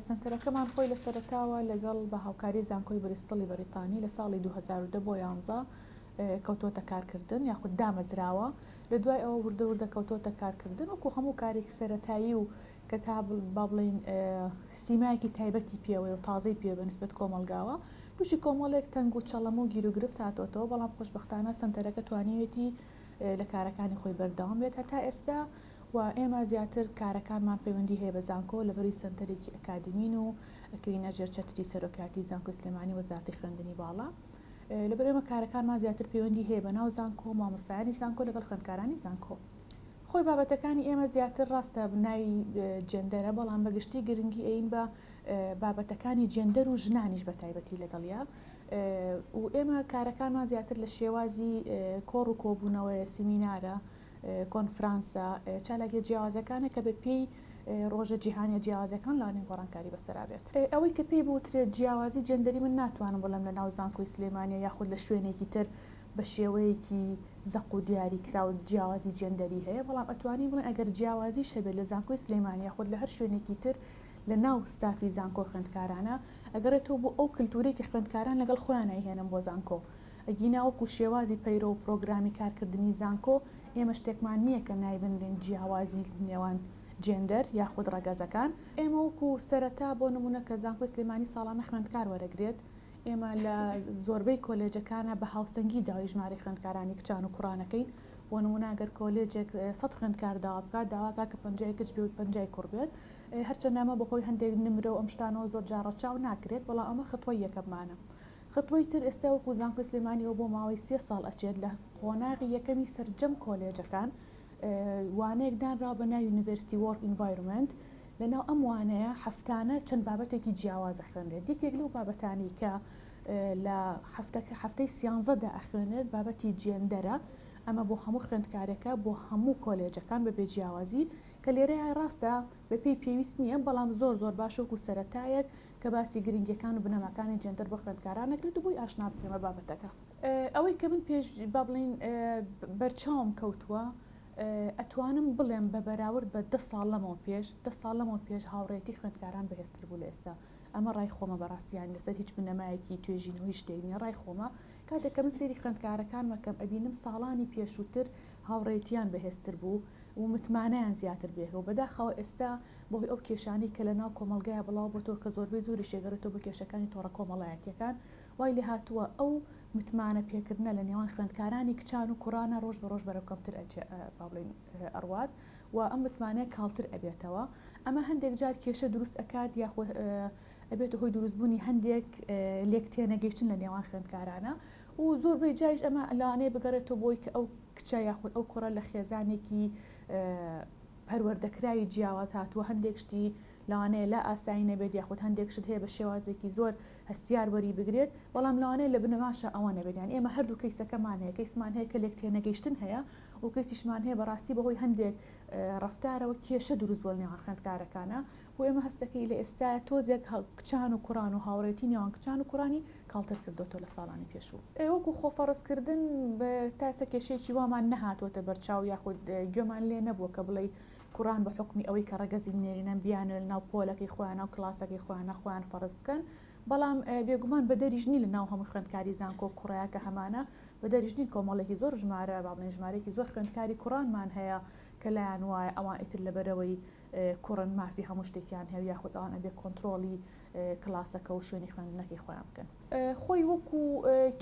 سەنتەرەکەمان خۆی لە سەرەتاوە لەگەڵ بە هاوکاری زانکۆی بریستڵی بەریتانی لە ساڵی دوو هەزار و دە بۆ یانزە کەوتووەتە کارکردن یاخود دامەزراوە لە دوای ئەوە وردە وردە کەوتووەتە کارکردن وەکو هەموو کارێکی سەرەتایی و کە تا با بڵین سیمایەکی تایبەتی پێوەیە و تازەی پێ بە نسبەت کۆمەڵگاوە تووشی کۆمەڵێک تەنگ و چەڵەمە و گیروگرفت هاتووەتەوە بەڵام خۆشببختانە سەنتەرەکە توانیوێتی لە کارەکانی خۆی بەردەوام بێت هەتا ئێستا و ئێمە زیاتر کارەکانمان پەیوەندی هەیە بە زانکۆ لەبەروی سەنتەرێکی ئەکادیمین و ئەکەوینە ژێر چەتری سەرۆکایەتی زانکۆی سلێمانی وەزارەتی خوێندنی باڵا لەبەر ئێمە کارەکانمان زیاتر پەیوەندی هەیە بە ناو زانکۆ مامۆستایانی زانکۆ لەگەڵ خوێندکارانی زانکۆ خۆی بابەتەکانی ئێمە زیاتر ڕاستە بناوی جێندەرە بەڵام بە گشتی گرنگی ئەین بە بابەتەکانی جێندەر و ژنانیش بە تایبەتی لەگەڵیا و ئێمە کارەکانمان زیاتر لە شێوازی کۆڕ و کۆبوونەوەیە سیمینارە کۆنفرانسە چالاکیە جیاوازەکانە کە بە پێی ڕۆژە جیهانیە جیاوازەکان لانی گۆڕانکاری بەسەرا بێت. ئەوەی کە پێی بوترێت جیاوازی جێندەری من ناتوانم بڵێم لە ناو زانکۆی سلێمانیە یاخود لە شوێنێکی تر بە شێوەیەکی زەق و دیاری کراو جیاوازی جێندەری هەیە بەڵام ئەتوانین بڵێن ئەگەر جیاوازیش هەبێت لە زانکۆی سلێمانی یاخود لە هەر شوێنێکی تر لە ناو ستافی زانکۆ خوێندکارانە ئەگەڕێتەوە بۆ ئەو کلتورەی کە خوێندکاران لەگەڵ خۆیان ئەیهێنن بۆ زانکۆ ئەگینا وەکو شێوازی پەیرەو و پرۆگرامی کارکردنی زانکۆ، ئێمە شتێکمان نییە کە نایبنرێن جیاوازی نێوان جێندەر یاخود ڕەگەزەکان. ئێمە وەکو سەرەتا بۆ نموونە کە زانکۆی سلێمانی ساڵانە خوێندکار وەرەگرێت، ئێمە لە زۆربەی کۆلێجەکانا بە هاوسەنگی داوای ژمارەی خوێندکارانی کچان و کوڕان ئەکەین، بۆ نموونە ئەگەر کۆلێجێک سەد خوێندکار داوا بکات، داوا ئەکات کە پەنجا ی کچ بێ و پەنجا ی کوڕ بێت، هەرچەندە ئەمە بەهۆی هەندێک نمرە و ئەم شتانەوە زۆر جار ڕەچاو ناکرێت، بەڵام ئەمە خطوەی یەکەممانە. خطوەی تر ئێستا وەکو زانکۆی سلێمانی ئەو بۆ ماوەی سێ ساڵ ئەچێت لە قۆناغی یەکەمی سەرجەم کۆلێجەکان وانەیەک دانراوە بە ناوی یونیڤەرستی وۆرک ئینڤایرۆمێنت لەناو ئەم وانەیە هەفتانە چەند بابەتێکی جیاواز ئەخوێنرێت یەکێک لەو بابەتانەی کە لە هەفتەکە هەفتەی سیانزەدا ئەخوێنێت بابەتی جێندەرە ئەمە بۆ هەموو خوێندکارێکە بۆ هەموو کۆلێجەکان بە بێجیاوازی کە لێرەیە ڕاستە بەپێی پێویست نییە بەڵام زۆر زۆر باشۆک و سەتایەک کە باسی گرنگیەکان و بنەماکانی جێندەر بۆ خوێندکاران ئەکرێت و بۆی ئاشنا بکەین بە بابەتەکە. ئەوەی کە من پێش با بڵێین بەرچاوم کەوتووە ئەتوانم بڵێم بە بەراورد بە دە ساڵ لەمەوە پێش دە ساڵ لەمەوە پێش هاوڕێیەتی خوێندکاران بەهێزتر بوو لە ئێستا ئەمە ڕای خۆمە بەڕاستی یانی لەسەر هیچ بنەمایەکی توێژینەوە هیچ شتێک نییە ڕای خۆمە کاتێک کە من سەیری خوێندکارەکانم ئەکەم ئەبینم ساڵانی پێشووتر هاوڕێیەتییان بەهێزتر بوو و متمانەیان زیاتر بێ و بەداخەوە ئێستا بەهۆی ئەو کێشانەی کە لە ناو کۆمەڵگایا بڵاو بۆتەوە کە زۆربەی زۆریش دەگەڕێتەوە بە کێشەکانی تۆڕە کۆمەڵایەتییەکان، وای لێ هاتووە ئەو متمانە پێکردنە لە نێوان خوێندکارانی کچان و کورانە رۆژ بە رۆژ بەرەو کەمتر ئەچێ با بڵێین ئەڕوات و ئەم متمانەیە کاڵتر ئەبێتەوە ئەمە هەندێک جار کێشە دروست ئەکات یاخۆ ئەبێتە هۆی دروست بوونی هەندێک لێک تێنەگەیشتن لە نێوان خوێندکارانە و زۆربەی جایش ئەمە لەوانەیە بگەڕێتەوە بۆی کە ئەو کچە یاخود ئەو کوڕە لە خێزانێکی پەروەردەکراوی جیاواز هاتووە، هەندێک شتی لەوانەیە لا ئاسایی نەبێت یاخود هەندێک شت هەیە بە شێوازێکی زۆر هەستیار وەری بگرێت، بەڵام لەوانەیە لە بنەماشا ئەوە نەبێت، یان ئێمە هەردوو کەیسەکەمان هەیە، کەیسمان هەیە کە لێکتێنەگەیشتن هەیە و کەیسیشمان هەیە بەڕاستی بەهۆی هەندێک ڕەفتارەوە کێشە دروست بووە لەنێوان خوێندکارەکانا. بۆ ئێمە هەستەکەی لە ئێستایە تۆزێک کچان و کوڕان و هاوڕێتی نێوان کچان و کوڕانی کاڵتر کردۆتەوە لە ساڵانی پێشوو. وەکو خۆفەڕزکردن تا ئێستا کێشەیەکی وامان نەهاتۆتە بەرچاو یاخود گوێمان لێ نەبووە کە بڵێی کوڕان بە حوکمی ئەوەی کە ڕەگەزی نێرینەن بیانوێ لە ناو پۆلەکەی خۆیانا و کڵاسەکەی خۆیانا خۆیان فەڕز بکەن بەڵام بێگومان بەدەریش نین لە ناو هەموو خوێندکاری زانکۆ کوڕەیا کە هەمانە بەدەریش نین کۆمەڵێکی زۆر ژمارە با بڵێین ژمارەیەکی زۆر خوێندکاری کوڕانمان هەیە کە لایان وایە ئەوان ئیتر لە بەرەوەی کوڕن مافی هەموو شتێکیان هەیەو یاخود ئەوان ئەبێ کۆنترۆڵی کلاسەکە و شوێنی خوێندنەکەی خۆیان بکەن. خۆی وەکو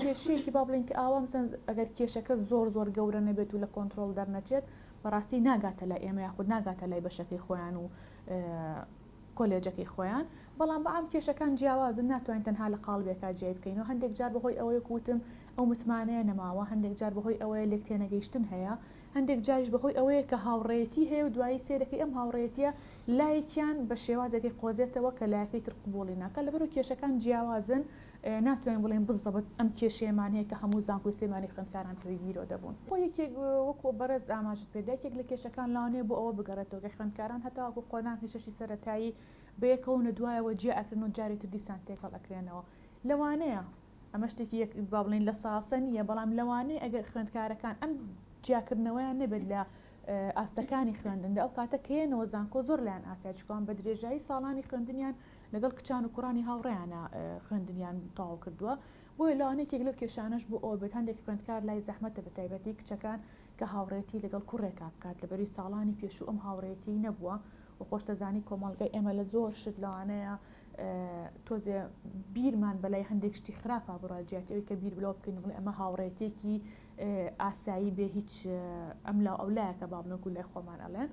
کێشەیەکی با بڵێین کە ئاوا مثلەن ئەگەر کێشەکە زۆر زۆر گەورە نەبێت و لە کۆنترۆڵ دەرنەچێت بەڕاستی ناگاتە لای ئێمە یاخود ناگاتە لای بەشەکەی خۆیان و کۆلێجەکەی خۆیان بەڵام بەعام کێشەکان جیاوازن ناتوانین تەنها لە قاڵبێکا جیای بکەینەوە هەندێک جار بەهۆی ئەوەی وەکو وتم ئەو متمانەیە نەماوە هەندێک جار بەهۆی ئەوەیە لێکتێنەگەیشتن هەیە هەندێک جاریش بەهۆی ئەوەیە کە هاوڕێیەتی هەیە و دوایی سەیر دەکەی ئەم هاوڕێیەتییە لایەکیان بە شێوازێکی قۆزێتەوە کە لایەکەی تر قبوڵی ناکات، لەبەرو کێشەکان جیاوازن ناتوانین بڵێین بزەبت ئەم کێشەیەمان هەیە کە هەموو زانکۆی سلێمانی خوێندکاران پێی گیرۆ دەبوون. خۆ یەکێک وەکو بەڕێز ئاماژەت پێ دا یەکێک لە کێشەکان لەوانەیە بۆ ئەوە بگەڕێتەوە کە خوێندکاران هەتاوەکو قۆناغی شەشی سەرەتایی بەیەکەوەن و دوایەوە جیا ئەکرێن و جارێ تر دیسان تێکەڵ ئەکرێنەوە لەوانەیە ئەمە شتێکی با بڵێین لە ساسە نییە، بەڵام لەوانەیە ئەگەر خوێندکارەکان ئەم جیاکردنەوەیان نەبێت لە ئاستەکانی خوێندندا ئەو کاتە کەێنەوە زانکۆ زۆر لایەن ئاسیا چکوان بە درێژایی ساڵانی خوێندنیان لەگەڵ کچان و کوڕانی هاوڕێیانە خوێندنیان تاو کردووە بۆیە لاوانێکێک لەو کێشانەش بۆ ئەو بێت هەندێک خوێندکار لای زەحمەتە بە تایبەتی کچەکان کە هاوڕێتی لەگەڵ کوڕێکا بکات لەبەری ساڵانی پێشوو ئەم هاوڕێتی نەبووە و خۆشتەزانی کۆمەڵگای ئێمە لە زۆر شت لەوانەیە تۆزێ بیرمان بەلای هەندێک شتی خراپا بڕا جیاتی ئەوی کە بیر بلەوە بکەین بڵێ ئەمە هاوڕێتێکی ئاسایی بێ هیچ ئەم لا ئەو لایەکە بابنەکو لای خۆمان ئەڵێن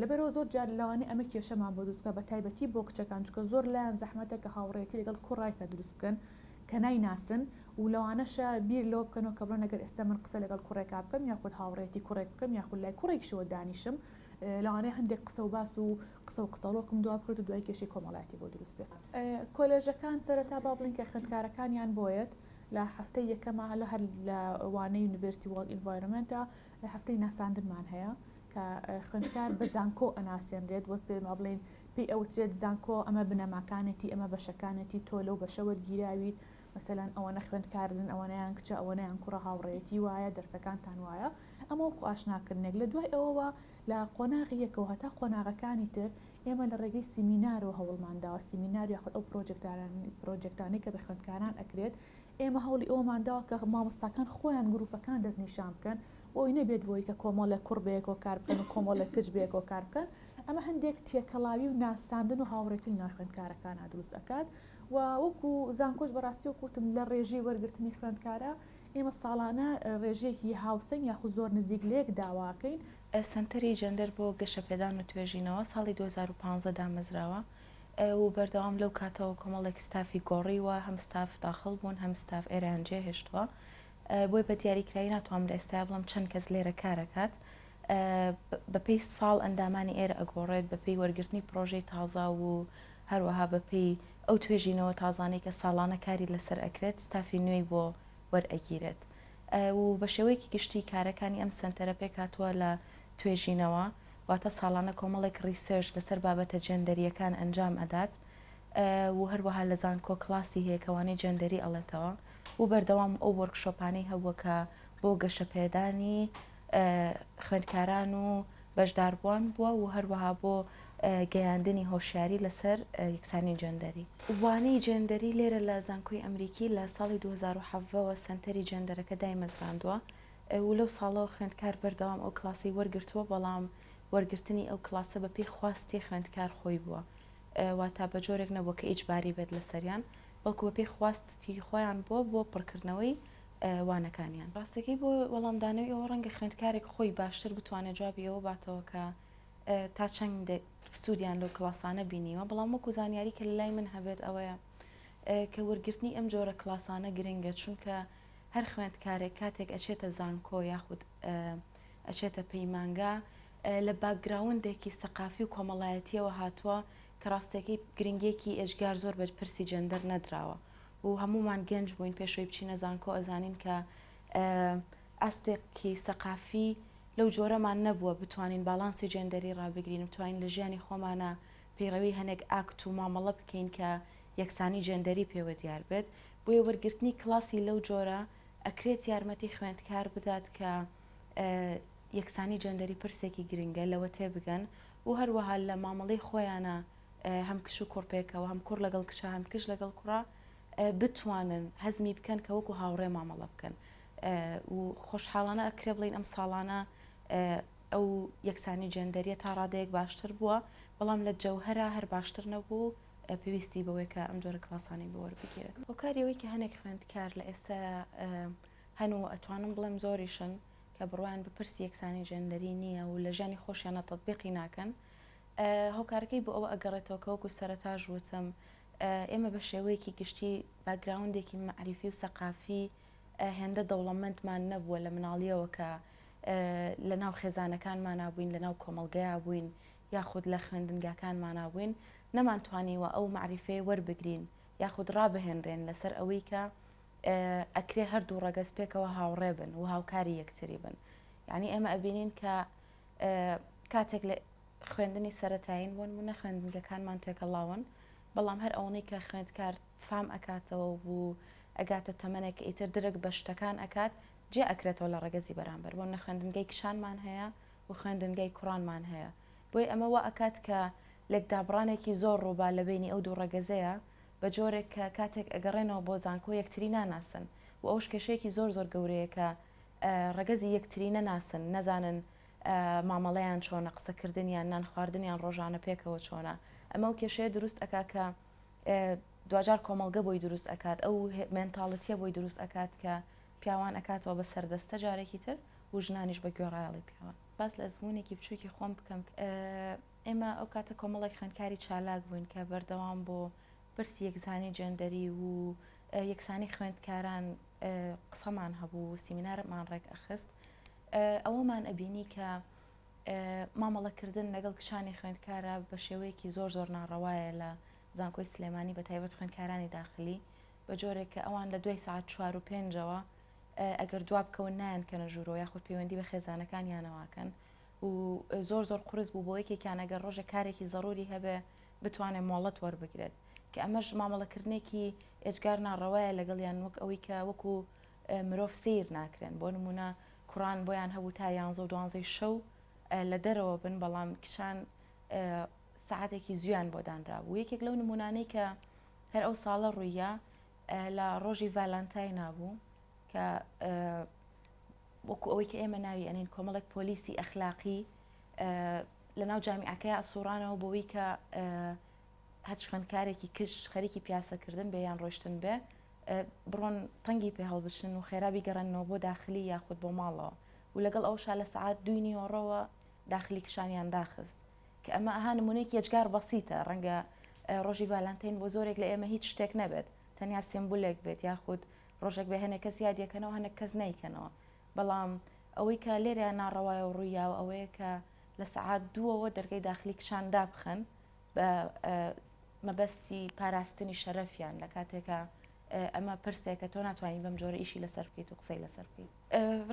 لەبەرەوە زۆر جار لەوانی ئەمە کێشەمان بۆ دروستکە بە تایبەتی بۆ کچەکان چکە زۆر لایەن زەحمەتە کە هاوڕێتی لەگەڵ کوڕایکە دروست بکەن کە نایناسن و لەوانەشە بیر لەوە بکەنەوە کە بڵێن ئەگەر ئێستا من قسە لەگەڵ کوڕێکا بکەم یاخود هاوڕێتی کوڕێک بکەم یاخود لای کوڕێکشەوە دانیشم لەوانەیە هەندێک قسە و باس و قسە و قسەڵۆکم دوا بکرێت و دوای کێشەی کۆمەڵایەتی بۆ دروست بێت. کۆلێژەکان سەرەتا با بڵێین کە خوێندکارەکانیان بۆیەت لە هەفتەی یەکەما هەلە هەر لە وانەی یونیڤێرتی وۆڵ ئینڤایرۆمێنتە هەفتەی ناساندنمان هەیە کە خوێندکار بە زانکۆ ئەناسێنرێت وەک پێ با بڵێین پێی ئەوترێت زانکۆ ئەمە بنەماکانێتی ئەمە بەشەکانێتی تۆ لەو بەشە وەرگیراویت مەسەلەن ئەوەنە خوێندکاردن ئەوەنەیان کچە ئەوەنەیان کوڕە هاوڕێیەتی وایە دەرسەکانتان وایە ئەمە وەکو ئاشناکردنێک، لە دوای ئەوەوە لە قۆناغی یەکەوە هەتا قۆناغەکانی تر ئێمە لە ڕێگەی سیمینارەوە هەوڵمان داوە، سیمینار یاخود ئەو پرۆجێکتانەی کە بە خوێندکاران ئەکرێت، ئێمە هەوڵی ئەوەمان داوە کە مامۆستاکان خۆیان گروپەکان دەستنیشان بکەن، بۆ ئەوەی نەبێت بۆی کە کۆمەڵێک کوڕ بەیەکەوە کار بکەن و کۆمەڵێک کچ بەیەکەوە کار بکەن، ئەمە هەندێک تێکەڵاوی و ناساندن و هاوڕێتی لە ناو خوێندکارەکانا دروست ئەکات و وەکو زانکۆش بەڕاستی وەکو وتم لە ڕێژەی وەرگرتنی خوێندکارا ئێمە ساڵانە رێژەیەکی هاوسەنگ یاخود زۆر نزیک لەیەک داواکەین. سەنتەری جەندەر بۆ گەشەپێدان و توێژینەوە ساڵی دوو هەزار و پازدە دامەزراوە و بەردەوام لەو کاتەوە کۆمەڵێک ستافی گۆڕیوە، هەم ستاف داخڵ بوون هەم ستاف ئێرەیان جێهێشتووە، بۆیە بە دیاریکراوی ناتوانم لە ئێستایا بڵێم چەند کەس لێرە کارەکات، بە پێی ساڵ ئەندامانی ئێرە ئەگۆڕێت بە پێی وەرگرتنی پڕۆژەی تازە و هەروەها بە پێی ئەو توێژینەوە تازانەی کە ساڵانە کاری لەسەر ئەکرێت ستافی نوێی بۆ وەرئەگیرێت و بە شێوەیەکی گشتی کارەکانی ئەم سەنتەرە پێکاتوە لە توێژینەوە واتە ساڵانە کۆمەڵێک ڕیسێرش لەسەر بابەتە جێندەریەکان ئەنجام ئەدات و هەروەها لە زانکۆ کلاسی هەیە کەوانی جێندەری ئەڵێتەوە و بەردەوام ئەو وەرکشۆپانەی هەبووە کە بۆ گەشەپێدانی خوێندکاران و بەشداربووان بووە و هەروەها بۆ گەیاندنی هۆشیاری لەسەر یەکسانی جێندەری. وانەی جێندەری لێرە لە زانکۆی ئەمریکی لە ساڵی دوو هەزار و حەڤدە وە سەنتەری جێندەرەکە دایمەزراندووە و لەو ساڵەوە خوێندکار بەردەوام ئەو کڵاسەی وەرگرتووە بەڵام وەرگرتنی ئەو کڵاسە بەپێی خواستی خوێندکار خۆی بووە واتا بەجۆرێک نەبووە کە ئیجباری بێت لەسەریان بەڵکو بەپێی خواستی خۆیان بووە بۆ پڕکردنەوەی وانەکانیان. ڕاستەکەی بۆ وەڵامدانەوەی ئەوە ڕەنگە خوێندکارێک خۆی باشتر بتوانێت جوابی ئەوە باتەوە کە تا چەند سوودیان لەو کڵاسانە بینیوە، بەڵام وەکو زانیاری کە لەلای من هەبێت ئەوەیە کە وەرگرتنی ئەم جۆرە کڵاسانە گرنگە چونکە هەر خوێندکارێک کاتێک ئەچێتە زانکۆ یاخود ئەچێتە پەیمانگا لە باکگراوندێکی سەقافی و کۆمەڵایەتیەوە هاتووە کە ڕاستەکەی گرنگێکی ئێجگار زۆر بە پرسی جەندەر نەدراوە و هەموومان گەنج بووین پێش ئەوەی بچینە زانکۆ ئەزانین کە ئاستێکی سەقافی لەو جۆرەمان نەبووە بتوانین باڵانسی جێندەری ڕابگرین بتوانین لە ژیانی خۆمانە پەیڕەوی هەنێک ئاکت و مامەڵە بکەین کە یەکسانی جێندەری پێوە دیار بێت بۆیە وەرگرتنی کڵاسی لەو جۆرە ئەکرێت یارمەتی خوێندکار بدات کە یەکسانی جێندەری پرسێکی گرنگە لەوە تێبگەن و هەروەها لە مامەڵەی خۆیانە هەم کچ و کوڕ پێکەوە، هەم کوڕ لەگەڵ کچە، هەم کچ لەگەڵ کوڕە بتوانن هەزمی بکەن کە وەکو هاوڕێ مامەڵە بکەن و خۆشحاڵانە ئەکرێ بڵین ئەم ساڵانە ئەو یەکسانی جێندەریە تا ڕادەیەک باشتر بووە بەڵام لە جەوهرا هەر باشتر نەبوو پێویستی بەوەی کە ئەم جۆرە کلاسانی بۆەر بگیرێت هۆکاریەوەی کە هەنێک خوێندکار لە ئێستا هەن و ئەتوانم بڵێم زۆریشن کە بڕوان بە پرسی یەکسانی جێندەری نییە و لە ژانی خۆشیانە تطببیقی ناکەن هۆکارەکەی بۆ ئەوە ئەگەڕێتەوە کە وەکو سەرەتاش وتم ئێمە بە شێوەیەکی گشتی باکگراوندێکی مەعریفی و سەقافی هێندە دەوڵەمەندمان نەبووە لە مناڵییەوە کە لە ناو خێزانەکانمانا بووین لە ناو کۆمەڵگەیا بووین یاخود لە خوێندنگاکانمانا بووین نەمانتوانیوە ئەو مەعریفەیە وەربگرین یاخود ڕابهێنرێن لەسەر ئەوەی کە ئەکرێ هەردوو ڕەگەز پێکەوە هاوڕێ بن و هاوکاری یەکتری بن یعنی ئێمە ئەبینین کە کاتێک خوێندنی سەرەتایین بۆنمونە خوێندنگەکانمان تێکەڵاون بەڵام هەر ئەوەنەی کە خوێندکار فام ئەکاتەوە و ئەگاتە تەمەنێک ئیتر درک بە شتەکان ئەکات جیا ئەکرێتەوە لە ڕەگەزی بەرامبەر بۆنە خوێندنگەی کچانمان هەیە و خوێندنگەی کوڕانمان هەیە بۆیە ئەمە وا ئەکات کە لێکدابڕانێکی زۆر ڕووبا لە بەینی ئەو دوو ڕەگەزەیە بە جۆرێک کە کاتێک ئەگەڕێنەوە بۆ زانکۆ یەکتری ناناسن و ئەوش کێشەیەکی زۆر زۆر گەورەیە کە ڕەگەزی یەکتری نەناسن نەزانن مامەڵەیان چۆنە، قسە کردن یان نان خواردن یان ڕۆژانە پێکەوە چۆنە، ئەمە ئەو کێشەیە دروست ئەکا کە دواجار کۆمەڵگە بۆی دروست ئەکات ئەو مێنتاڵتیە بۆی دروست ئەکات کە پیاوان ئەکاتەوە بە سەردەستە جارێکی تر و ژنانیش بە گوێڕایەڵی پیاوان باس لە ئەزمونێکی بچووکی خۆم بکەم ئێمە ئەو کاتە کۆمەڵێک خوێندکاری چالاک بووین کە بەردەوام بۆ پرسی یەکزانی جێندەری و یەکسانی خوێندکاران قسەمان هەبوو و سیمینارمان ڕێکئەخست ئەوەمان ئەبینی کە مامەڵەکردن لەگەڵ کچانی خوێندکارە بە شێوەیەکی زۆر زۆر ناڕەوایە لە زانکۆی سلێمانی بە تایبەت خوێندکارانی داخلی بە جۆرێک کە ئەوان لە دوای سعات چوار و پێنجەوە ئەگەر دواب بکەون نایەن کەنە ژوورۆ یاخود پەیوەندی بە خێزانەکان یانەواکەن و زۆر زۆر قرس بوو بۆ یەکێکیان ئەگەر ڕۆژە کارێکی زەڕوری هەبێ بتوانێت مۆڵەت وەربگرێت، کە ئەمەش مامەڵەکردنێکی ئێجگار ناڕەوایە لەگەڵیان وەک ئەوەی کە وەکو مرۆڤ سەیر ناکرێن، بۆ نموونە کوڕان بۆیان هەبوو تا یانزە و دوانزەی شەو لە دەرەوە بن، بەڵام کچان سەعاتێکی زوویان بۆ دانرابوو، یەکێک لەو نموونانەی کە هەر ئەو ساڵە ڕووییا لە ڕۆژی ڤالانتاینا بوو کە وەکو ئەوەی کە ئێمە ناوی ئەنێین کۆمەڵێک پۆلیسی ئەخلاقی لەناو جامیعەکەیا سوڕانەوە بۆوی کە هەچ خوێندکارێکی کچ خەریکی پیاسەکردن بێ یان ڕۆشتن بێ بڕۆن تەنگی پێ هەڵبچن و خێرابی گەڕێنەوە بۆ داخلی یاخود بۆ ماڵەوە و لەگەڵ ئەو شا لە سعات دوی نیوەڕەوە داخلی کشانیان داخست کە ئەمە ئەها نمونێک یەجگار بەسیتە ڕەنگە ڕۆژی ڤالانتین بۆ زۆرێک لە ئێمە هیچ شتێک نەبێت تەنیا سمبولێک بێت یاخود ڕۆژێک بە هەنێک کەس یادیەکەنەوە هەنێک کەس نیکەنەوە بەڵام ئەوەی کە لێرە ناڕەوایە و ڕوویاوە ئەوەیە کە لە سەعات دووەوە دەرگەی داخلی کچان دابخەن بە مەبەستی پاراستنی شەرەفیان لە کاتێکە ئەمە پرسێکە تۆ ناتوانین بەم جۆرە ئیشی لەسەر بکەیت و قسەی لەسەر بکەیت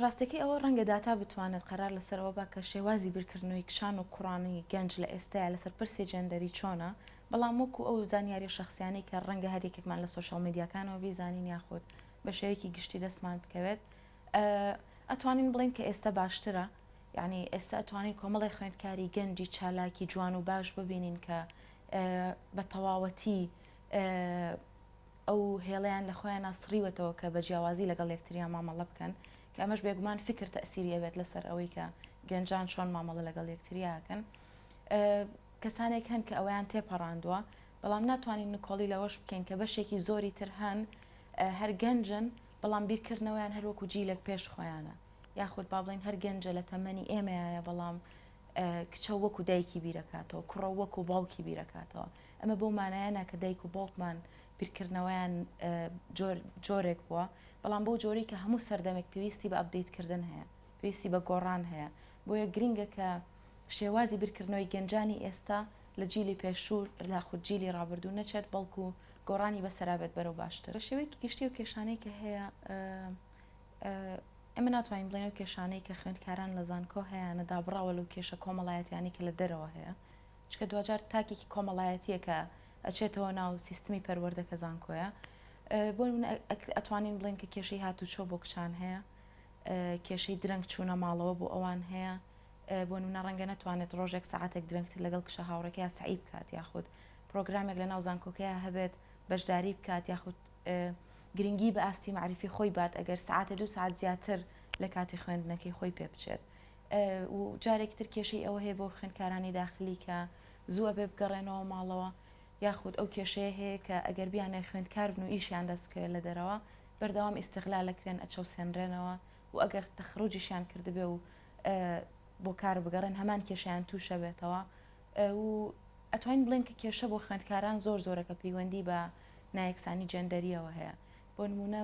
ڕاستەکەی ئەوە ڕەنگە داتا بتوانێت قەرار لەسەرەوە بە کە شێوازی بیرکردنەوەی کچان و کوڕانی گەنج لە ئێستایا لەسەر پرسی جێندەری چۆنە بەڵام وەکو ئەو زانیاری شخصیانی کە ڕەنگە هەریەکێکمان لە سوۆشال میدیاکانەوە بیزانین یاخود بە شێوەیەکی گشتی دەستمان بکەوێت ئەتوانین بڵێین کە ئێستە باشترە یعنی ئێستا ئەتوانین کۆمەڵی خوێندکاری گەنجی چالاکی جوان و باش ببینین کە بە تەواوەتی ئەو هێڵیان لە خۆیان ناسڕیوەتەوە کە بە جیاوازی لەگەڵ یەکتریان مامەڵە بکەن کە ئەمەش بێگومان فکر تەسیری ئەوێت لەسەر ئەوەی کە گەنجان چۆن مامەڵە لەگەڵ یەکتریاکەن کەسانێک هەن کە ئەویان تێپەڕاندووە بەڵام ناتوانین نکۆڵی لەوەش بکەین کە بەشێکی زۆری تر هەن هەر گەنجن بەڵام بیرکردنەوەیان هەر وەکو جیلێک پێش خۆیانە یاخود با بڵێین هەر گەنجە لە تەمەنی ئێمەیایە بەڵام کچە وەکو دایکی بیرەکاتەوە کوڕە وەکو باوکی بیرەکاتەوە ئەمە بەو مانایەنە کە دایک و باوکمان بیرکردنەوەیان جۆرێک بووە بەڵام بەو جۆری کە هەموو سەردەمێک پێویستی بە ئەبدەیتکردن هەیە پێویستی بە گۆڕان هەیە بۆیە گرنگە کە شێوازی بیرکردنەوەی گەنجانی ئێستا لە جیلی پێشوو لاخود جیلی ڕابردوو نەچێت بەڵکو گۆڕانی بەسەرا بێت بەرەو باشتر. بە شێوەیەکی گشتی ئەو کێشانەی کە هەیە ئێمە ناتوانین بڵێین ئەو کێشانەی کە خوێندکاران لە زانکۆ هەیانە دابڕاوە لەو کێشە کۆمەڵایەتیانەی کە لە دەرەوە هەیە چونکە دواجار تاکێکی کۆمەڵایەتیە کە ئەچێتەوە ناو سیستمی پەروەردە کە زانکۆیە بۆ نمونە ئەتوانین بڵێن کە کێشەی هاتوچۆ بۆ کچان هەیە کێشەی درەنگ چوونە ماڵەوە بۆ ئەوان هەیە بۆ نمونە ڕەنگە نەتوانێت ڕۆژێک سەعاتێک درەنگتر لەگەڵ کچە هاوڕێکەیا سەعی بکات یاخود پرۆگرامێک لەناو زانکۆکەیا هەبێت بەشداری بکات یاخود گرنگی بە ئاستی مەعریفی خۆی بات ئەگەر سەعاتێ دوو ساعت زیاتر لە کاتی خوێندنەکەی خۆی پێ بچێت و جارێکی تر کێشەی ئەوە هەیە بۆ خوێندکارانی داخلی کە زووە بێ بگەڕێنەوە ماڵەوە یاخود ئەو کێشەیە هەیە کە ئەگەر بیانە خوێندکار بن و ئیشیان دەست بکەوێت لە دەرەوە بەردەوام ئیستغلالەکرێن ئەچەوسێنرێنەوە و ئەگەر تەخروجیشیان کردبێ و بۆ کار بگەڕێن هەمان کێشیان تووشە بێتەوە و ئەتوانین بڵێن کە کێشە بۆ خوێندکاران زۆر زۆرەکە پەیوەندی بە نایەکسانی جەندەریەوە هەیە بۆ نمونە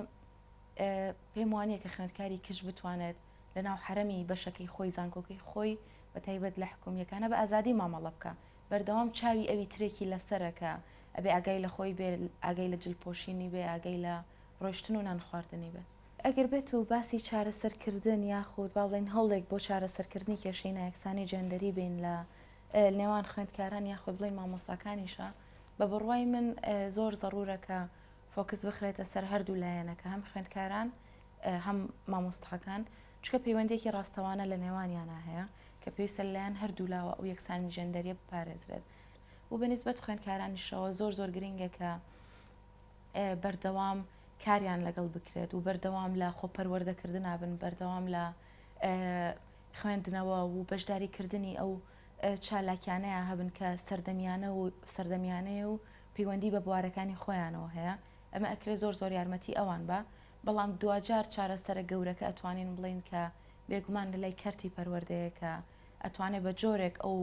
پێم وانە کە خوێندکاری کچ بتوانێت لە ناو حرەمی بەشەکەی خۆی زانکۆکەی خۆی بە تایبەت لە حکومیەکانە بە ئازادی مامەڵە بکە بەردەوام چاوی ئەوی ترێکی لەسەرەکە ئەبێ ئاگای لە خۆی بێ ئاگای لە جلپۆشینی بێ ئاگای لە ڕۆشتن و نان خواردنی بێت ئەگەر بێت و باسی چارەسەرکردن یاخود با بڵێین هەوڵێک بۆ چارەسەرکردنی کێشەی نایەکسانی جێندەری بین لە نێوان خوێندکاران یاخود بڵێین مامۆستاکانیشە، بە بڕوای من زۆر زەڕوورە کە فۆکس بخرێتە سەر هەردوو لایەنەکە، هەم خوێندکاران هەم مامۆستاکان، چونکە پەیوەندییەکی ڕاستەوانە لە نێوانیانا هەیە کە پێویستە لەلایەن هەردوو لاوە ئەو یەکسانی جێندەرییە بپارێزرێت و بە نیسبەت خوێندکارانیشەوە زۆر زۆر گرنگە کە بەردەوام کاریان لەگەڵ بکرێت و بەردەوام لە خۆپەروەردەکردنا بن بەردەوام لە خوێندنەوە و بەشداریکردنی ئەو چالاکیانەیە هەبن کە سەردەمیانە و سەردەمیانەیە و پەیوەندی بە بوارەکانی خۆیانەوە هەیە ئەمە ئەکرێ زۆر زۆر یارمەتی ئەوان بە بەڵام دوجار چارەسەرە گەورەکە ئەتوانین بڵین کە بێگومان لە لای کەرتی پەروەردەیەکە ئەتوانێت بە جۆرێک ئەو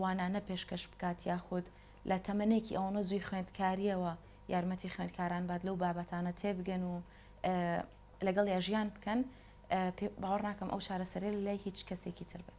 وانانە پێشکەش بکات یاخود لە تەمەنێکی ئەوەنە زووی خوێندکارییەوە یارمەتی خوێندکاران بات لەو بابەتانە تێبگەن و لەگەڵ یا ژیان بکەن باوەڕ ناکەم ئەو چارەسەرێ لای هیچ کەسێکی تر بێت.